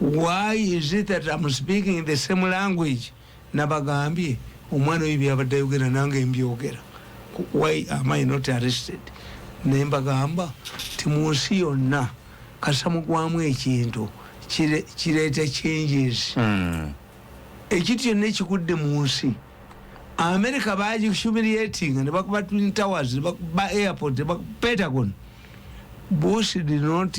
why is it that am speaking the same language nabagambye omwana oyo byabadde ayogera nange mbyogera why am i not arrested naye mbagamba ti mu nsi yonna kasamugwamu ekintu kireeta changes hmm. ekintu kyonna ekigudde mu nsi america bagihumiliatinga nebakuba twin towers nebakuba airport nebakuba pentagon bush did not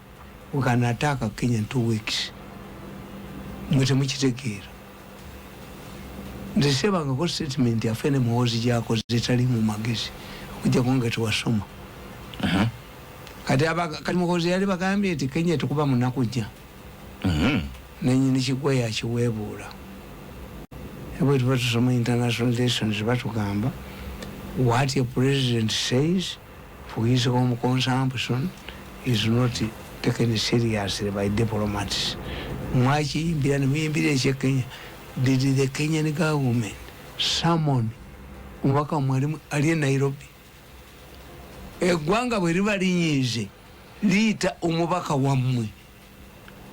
Uganda attack Kenya in two weeks mwe temukitegeera nze sebangako statement yafe ne muhoozi gyakoze etali mu magezi okujjako nga tewasoma uh-huh. kati kati muhoozi yali bagambye nti kenya tekuba munaku jja uh-huh. nanyini kigwa yakiweebuula ebwe tuba tusoma international lessons batugamba what a president says Obujulizi bw'omu consumption is not taken seriously by diplomats. Mwakiyimbira ne muyimbira eky'e Kenya. Did the Kenyan government summon omubaka wammwe ali mu- ali e Nairobi? Eggwanga bwe liba linyiize liyita omubaka wammwe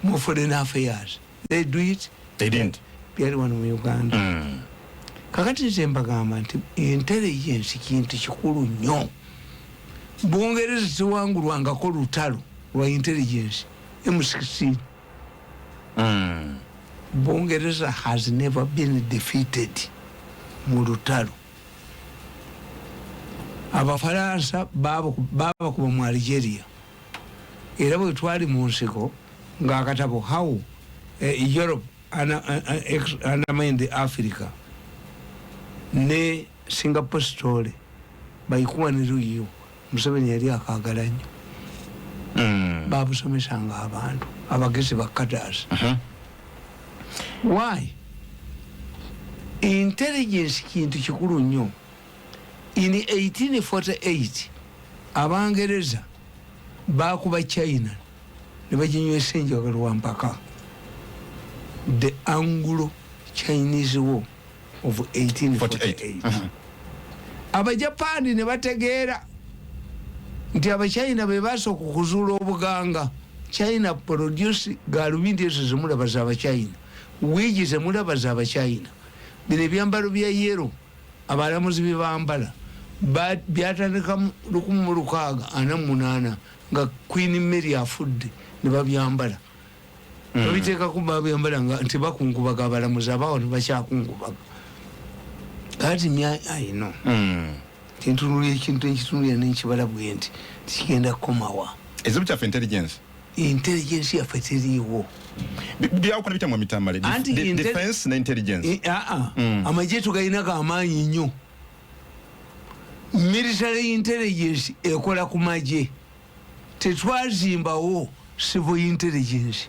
mu foreign affairs they do it they didn't byali wano mu uganda mm. kakati nze mbagamba nti entebe yensi kintu kikulu nnyo bungereza tewangulwangako lutalo lwa intelligence m16 mm. bungereza has never been defeated mu lutalo abafaransa babakuba mu algeria Era bwe twali mu nsiko, nga akatabo How a Europe Undermined Africa ne Singapore Story by Kwame Ruyiu Museveni yali akaagala nnyo. Hmm. Baabusomesanga abantu abagezi bakkataasi. Uh-huh. Why? Intelligence kintu kikulu nnyo. In 1848 Abangereza baakuba China ne baginywesa enjaga lwampaka, the Anglo Chinese War of 1848. Abajapaani ne bategeera nti Abachina be baasooka okuzuula obuganga. China produce gaalubindi ezo ze mulaba za Abachina, wiigi ze mulaba za Abachina, bino ebyambalo bya yero Abalamuzi b'e Bambala ba byatandika mu lukumi mu lukaaga ana mu munaana nga Queen Mary afudde ne babyambala mm. babiteekako babyambala nga nti bakungubaga abalamuzi abaawo ne bakyakungubaga kati mya ayino mm. tintunulira ekintu ekitunulira nenkibala bwe nti tikigenda kukomawa ezibu kyaffe intelligence intelligence yaffe teriiwo byawukana bitya mwa mitambale defense ne intelligence eh, ah, ah. mm. amagye tugalinako amaanyi nnyo military intelligence ekola ku magye tetwazimbawo civil intelligence